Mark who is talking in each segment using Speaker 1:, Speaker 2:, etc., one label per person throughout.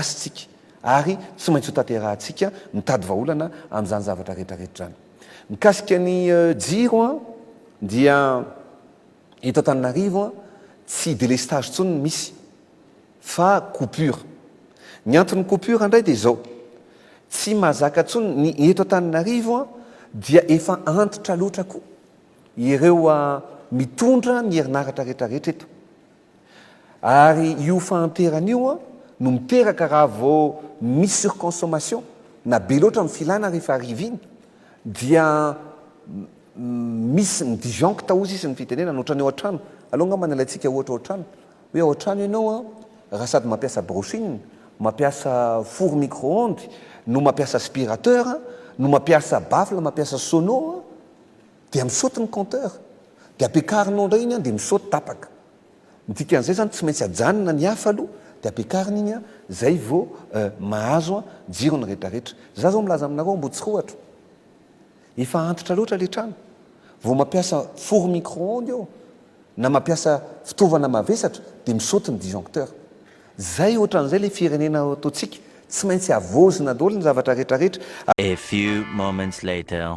Speaker 1: gasy tsika ary tsy maintsy ho tanterahantsika mitady vahaolana amin'izany zavatra rehetrarehetra izany. Mikasika ny jiro an dia eto Antananarivo an tsy délestage intsony no misy fa coupure. Ny anton'ny coupure indray dia izao, tsy mazaka intsony ny eto Antananarivo an dia efa antitra loatra koa ireo mitondra ny herinaratra rehetrarehetra eto. Ary io fahanterana io no miteraka raha vao misy surconsommation na be loatra ny filana rehefa hariva iny dia misy mi-disjoncte hozy izy ny fitenenana ohatrany ao an-trano aleo angamba ny alaintsika ohatra ao an-trano hoe ao an-trano ianao an raha sady mampiasa brushing mampiasa four micro-ondes no mampiasa aspirateur no mampiasa baffle mampiasa sono an Dia mi-saute ny compteur. Dia ampiakarinao indray iny an, dia mi-saute tapaka. Ny dikan'izay izany tsy maintsy ajanona ny hafa aloha, dia ampiakarina iny an, izay vao mahazo an, jiro ny rehetrarehetra. Za izao milaza aminareo Ambohitsorohatra. Efa antitra loatra ilay trano. Vao mampiasa four micro-ondes eo, na mampiasa fitaovana mavesatra, dia mi-saute ny disjoncteur. Izay ohatran'izay ilay firenena ataontsika. Tsy maintsy havaozina daholo ny zavatra rehetrarehetra. A few
Speaker 2: moments later.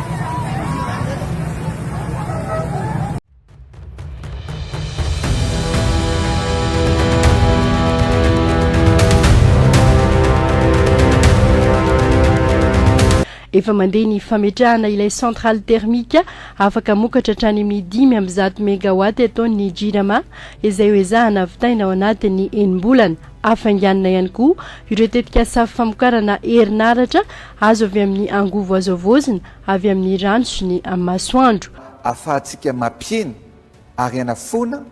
Speaker 3: Efa mandeha ny fametrahana ilay centrale thermique afaka mokatra hatrany amin'ny dimy amby zato megawatt eto ny Jirama izay ho ezahana vitaina ao anatin'ny enim-bolana. Hafainganina ihany koa ireo tetikasa famokarana herinaratra Azo avy amin'ny angovo azo havaozina avy amin'ny rano sy ny masoandro. Ahafahantsika
Speaker 1: mampihena ary hanafoana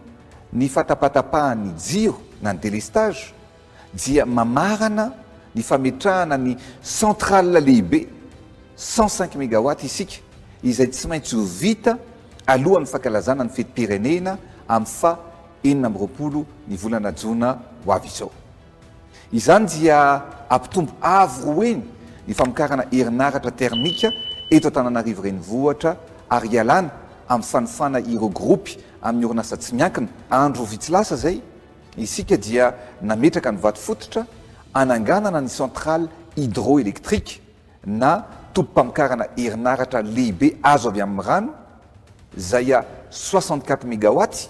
Speaker 1: ny fatapatapahan'ny jiro na ny délestage dia mamarana ny fametrahana ny centrale lehibe cent cinq mégawatts isika izay tsy maintsy ho vita alohan'ny fankalazana ny fetim-pirenena amin'ny faha enina amby roapolo ny volana jona ho avy izao. Izany dia hampitombo avo roa heny ny famokarana herinaratra termika eto Antananarivo Renivohitra ary hialana amin'ny fanofana ireo gropy amin'ny orinasa tsy miankina. Andro vitsy lasa izay, isika dia nametraka ny vato fototra hananganana ny centrale hydroélectrique na tobim-pamokarana herinaratra lehibe azo avy amin'ny rano, izay soixante-quatre megawatts,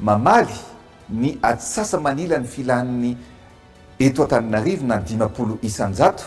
Speaker 1: Mamaly ny atsasa-manila ny filan'ny eto Antananarivo na ny dimampolo isan-jato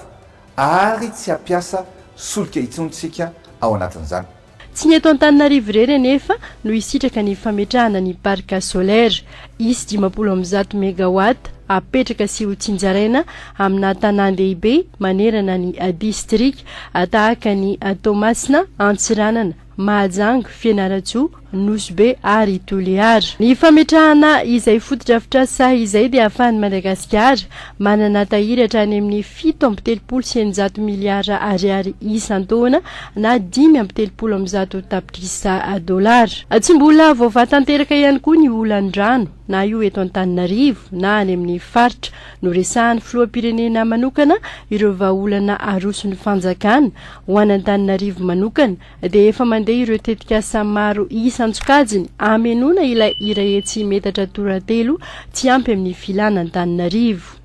Speaker 1: Ar tsy hampiasa solika intsony isika ao anatin'izany. Tsy ny eto
Speaker 3: Antananarivo irery anefa no hisitraka ny fametrahana ny parc solaire. Hisy dimampolo amby zato megawatt hapetraka sy hotsinjaraina amina tanàn-dehibe manerana ny distrika, tahaka an'i Toamasina, Antsiranana, Mahajanga, Fianarantsoa, Nosy Be ary Toliara. Ny fametrahana izay fotodrafitrasa izay dia ahafahan'i Madagasikara manana tahiry hatrany amin'ny fito amby telopolo sy eninjato miliara ariary isan-taona na dimy amby telopolo amby zato tapitrisa dolara. Tsy mbola voavaha tanteraka ihany koa ny olan'ny rano na io eto Antananarivo na any amin'ny faritra. Noresahan'ny filoham-pirenena manokana ireo vahaolana aroson'ny fanjakana Ho an'Antananarivo manokana dia efa mandeha ireo tetikasa maro isa an-tsokajiny hamenoana ilay iray hetsy metatra toratelo tsy ampy amin'ny filan'Antananarivo.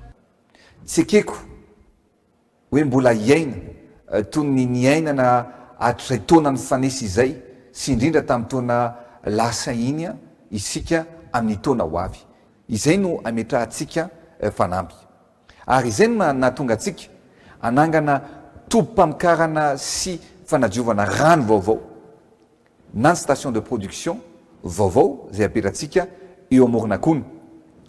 Speaker 1: Tsy ekeko hoe mbola hiaina toy ny niainana hatrizay taona nifanesy izay sy indrindra tamin'ny taona lasa iny isika amin'ny taona ho avy. Izay no ametrahantsika fanampy. Ary izay no nahatonga antsika hanangana tobim-pamokarana sy fanadiovana rano vaovao na ny station de production vaovao izay apetratsika eo Amoronakona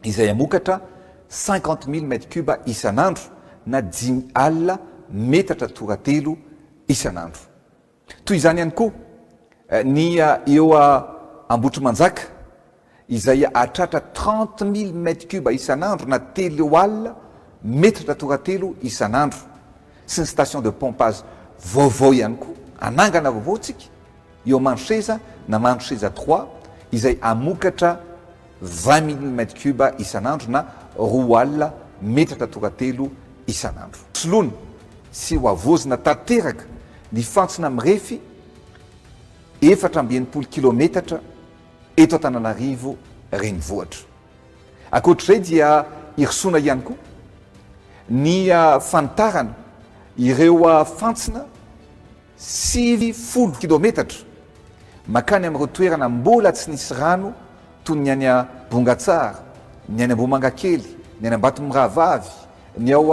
Speaker 1: izay hamokatra cinquante mille mètres cubes isan'andro na dimy alina metatra toratelo isan'andro. Toy izany ihany koa ny eo Ambohitrimanjaka izay hahatratra trente mille mètres cubes isan'andro na telo eo alina metatra toratelo isan'andro sy ny station de pompage vaovao ihany koa hanangana vaovao tsika eo Manseza na Manseza trois izay hamokatra vingt mille mètre cube isan'andro na roa alina metatra tora-telo isan'andro. Soloina sy hohavaozina tanteraka ny fantsona mirefy efatra amby enimpolo kilaometatra eto Antananarivo renivohitra. Ankoatr'izay dia hirosoana ihany koa ny fanitarana ireo fantsona. sivy folo kilometatra mankany amin'ireo toerana mbola tsy nisy rano toy ny any Bongatsara, ny any Ambohimangakely, ny any Ambatomirahavavy, ny ao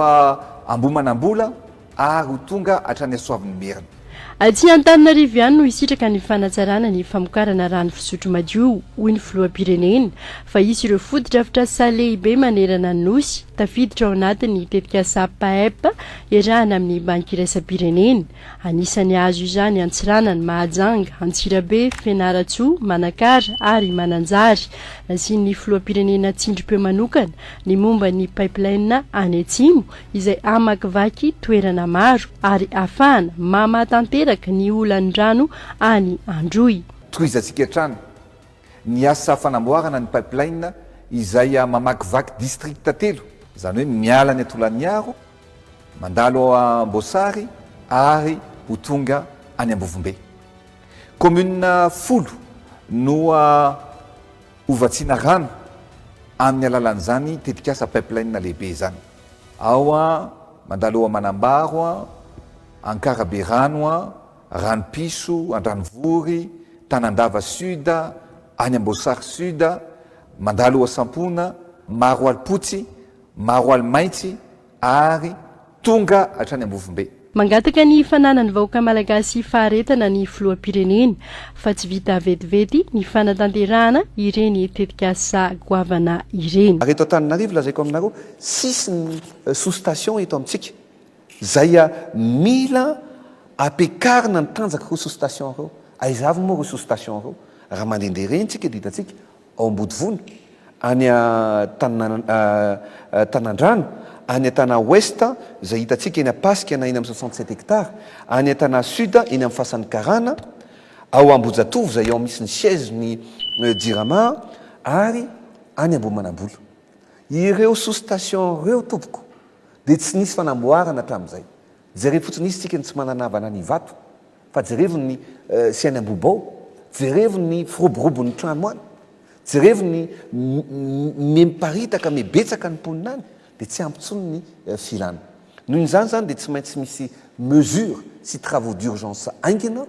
Speaker 1: Ambohimanambola ary ho tonga hatrany Soavinimerina. Aty
Speaker 3: Antananarivo ihany no hisitraka ny fanatsarana ny famokarana rano fisotro madio, hoy ny filoham-pirenena, fa hisy ireo fotodrafitrasa lehibe manerana ny Nosy, tafiditra ao anatin'ny tetikasa PAEP, Iarahana amin'ny Banky Iraisam-pirenena, anisan'ny azo izany Antsiranana, Mahajanga, Antsirabe, Fianarantsoa, Manakara ary Mananjary. Nasian'ny Filoham-pirenena tsindrim-peo manokana ny momba ny pipeline any Atsimo izay hamakivaky toerana maro ary hahafahana mamaha tanteraka ny olan'ny rano any Androy. Tohizantsika hatrany
Speaker 1: ny asa fanamboarana ny pipeline izay mamakivaky distrikta telo, izany hoe miala any Tolagnaro, mandalo ao Amboasary ary ho tonga any Ambovombe. Kaominina folo no hovatsiana rano amin'ny alalan'izany tetikasa pipeline lehibe izany. Ao mandalo ao Manambaro, Ankarabe rano. Ranopiso, Andranovory, Tanandava Sud, any Amboasary Sud, Mandalohasampona, Maroalipotsy, Maroalimaintsy ary tonga hatrany Ambovombe. Mangataka ny
Speaker 3: fananan'ny vahoaka malagasy faharetana ny filoham-pirenena fa tsy vita vetivety ny fanatanterahana ireny tetikasa goavana ireny. Ary eto Antananarivo lazaiko
Speaker 4: aminareo, sisiny sous-station eto amintsika. Zay a mila apekarina ny tanjaka reo sous station reo aiza avy moa reo sous station reo raha mandende reny tsika dia hitantsika ao ambodivona any a tanandrano any a tana ouest zay hitantsika eny ampasika na eny am soixante sept hectare any a tana sud eny am fasan'ny karana ao ambojatovo zay ao misy ny siège ny jirama ary any ambohimanambola ireo sous station reo tompoko Dia tsy nisy fanamboarana hatramin'izay. Jerevo fotsiny izy tsika ny tsy manana havana any Ivato fa jerevo ny sy any Ambohibao, jerevo ny firoborobo ny trano any, jerevo ny miparitaka mibetsaka ny mponina any dia tsy ampy intsony ny filana. Noho izany izany dia tsy maintsy misy mesures sy travaux d'urgence haingana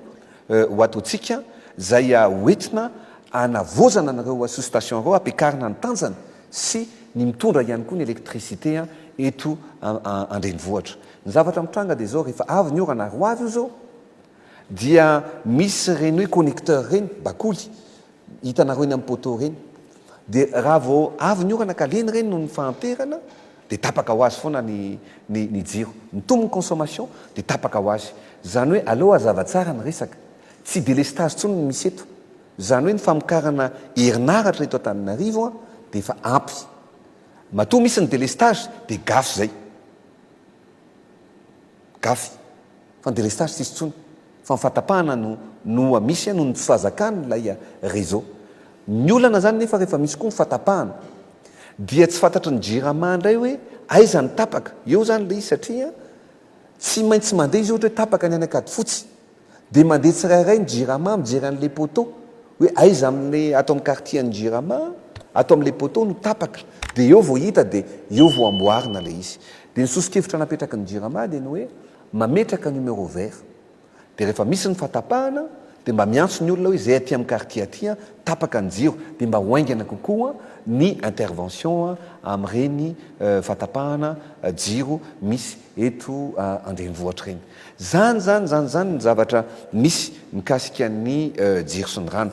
Speaker 4: ho ataontsika izay hoentina hanavaozana an'ireo sous-stations ireo hampiakarina ny tanjany sy ny mitondra ihany koa ny électricité eto an-drenivohitra. Ny zavatra mitranga dia izao, rehefa avy ny orana ary ho avy io izao dia misy ireny hoe connecteur ireny, bakoly, hitanareo eny amin'ny poteau ireny, dia raha vao avy ny orana ka lena ireny noho ny fahanterana dia tapaka ho azy foana ny ny jiro. Mitombo ny consommation dia tapaka ho azy. Izany hoe aleo hazava tsara ny resaka. Tsy délestage intsony no misy eto. Izany hoe ny famokarana herinaratra eto Antananarivo dia efa ampy. Matoa misy ny délestage dia gafy izay. Gafy. Fa ny délestage tsisy intsony. Fa ny fahatapahana no no misy noho ny tsy fahazakan ilay réseau. Ny olana izany nefa rehefa misy koa ny fahatapahana dia tsy fantatry ny jirama indray hoe aiza ny tapaka. Eo izany ilay izy satria tsy maintsy mandeha izy ohatra hoe tapaka ny any Ankadifotsy. Dia mandeha tsirairay ny jirama mijery an'ilay poteau hoe aiza amin'ilay ato amin'ny quartier an'ny jirama ato amin'ilay poteau no tapaka. Dia eo vao hita dia eo vao amboarina ilay izy. Dia ny soso-kevitra napetraky ny jirama dia ny hoe mametraka numéro vert. Dia rehefa misy ny fahatapahana dia mba miantso ny olona hoe izay aty amin'ny quartier aty an, tapaka ny jiro. Dia mba ho haingana kokoa ny intervention amin'ireny fahatapahana jiro misy eto an-drenivohitra ireny. Zany zany zany zany ny zavatra misy mikasika ny jiro sy ny rano.